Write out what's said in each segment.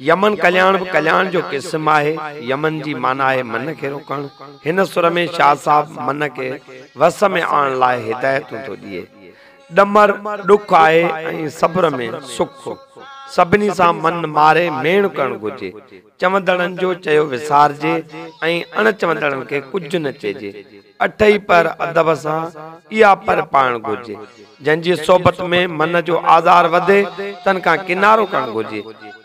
Yemen Kalyan به ڪلياڻ جو قسم آهي. يمن جي معنيٰ آهي من کي روڪڻ. هن سر ۾ شاهه صاحب من کي وس ۾ آڻڻ لاء هدايتون ٿو ڏئي. ڏمر ڏک آهي ۽ صبر ۾ سک. سڀني سان من ماري ميڻ ڪرڻ گهرجي. چوندڙن جو چيو وسارجي ۽ اڻ چوندڙن کي ڪجهه نه چئجي. اٽهي پهر ادب سان اها پهر پائڻ گهرجي، جن جي صحبت ۾ من جو آزار وڌي، تن کان ڪنارو ڪرڻ گهرجي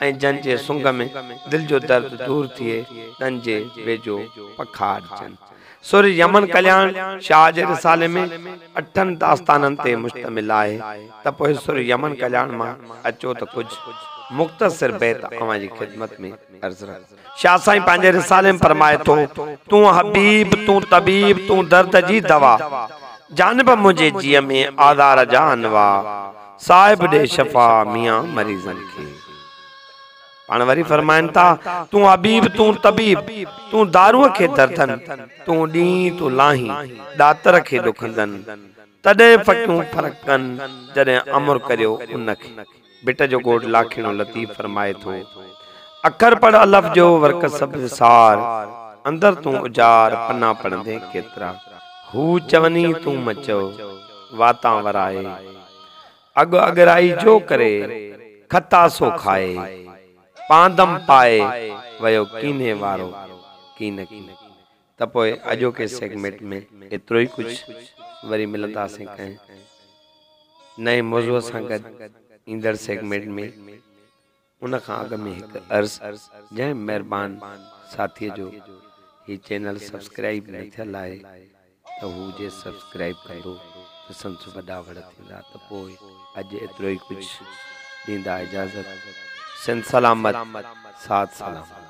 ۽ جن جي سنگ ۾ دل جو درد دور ٿئي، تن جي ويجهو پکاڙجن. سر يمن ڪلياڻ شاهه جي رسالي ۾ اٺن داستانن تي مشتمل آهي، ته پوء سر يمن ڪلياڻ مان اچو ته ڪجهه مختصر بيت اوهان جي خدمت ۾ عرض رکون. شاهه سائين پنهنجي رسالي ۾ فرمائي ٿو، تون حبيب، تون طبيب، تون درد جي دوا، جانب منهنجي جيء ۾ آزار جا انواع، صاحب ڏي شفا ميان مريضن کي. پاڻ وري فرمائن ٿا، تون حبيب، تون طبيب، تون دارونء کي دردن، تون ڏينهين، تون لاهين، ڏاتر کي ڏکندن، تڏهن ڦڪيون ڦرڪن، جڏهن امر ڪريو ان کي. ڀٽ جو گهوٽ لاکيڻو لطيف فرمائي ٿو، اکر پڙهه الف جو ورق سبز سار، اندر تون اجار پنا پڙهندين ڪيترا، هو چوني تون مچئو، واتان ورائي، اڳ اڳرائي جو ڪري، کتا سو کائي، پاندم پائي، ويو ڪيني وارو، ڪين ڪين. ته پوء اڄوڪي سيگمينٽ ۾ ايترو ئي ڪجهه، وري ملنداسين ڪنهن نئين موضوع سان گڏ ايندڙ سيگمينٽ ۾ ان کان اڳ ۾ هڪ عرض جنهن مهربان ساٿي جو هي چينل سبسڪرائيب نه ٿيل آهي ته هو جي سبسڪرائيب ڪندو ته سندس وڏا وڙ ٿيندا ته پوء اڄ ايترو ئي ڪجهه ڏيندا اجازت سنڌ سلامت ساٿ سلام.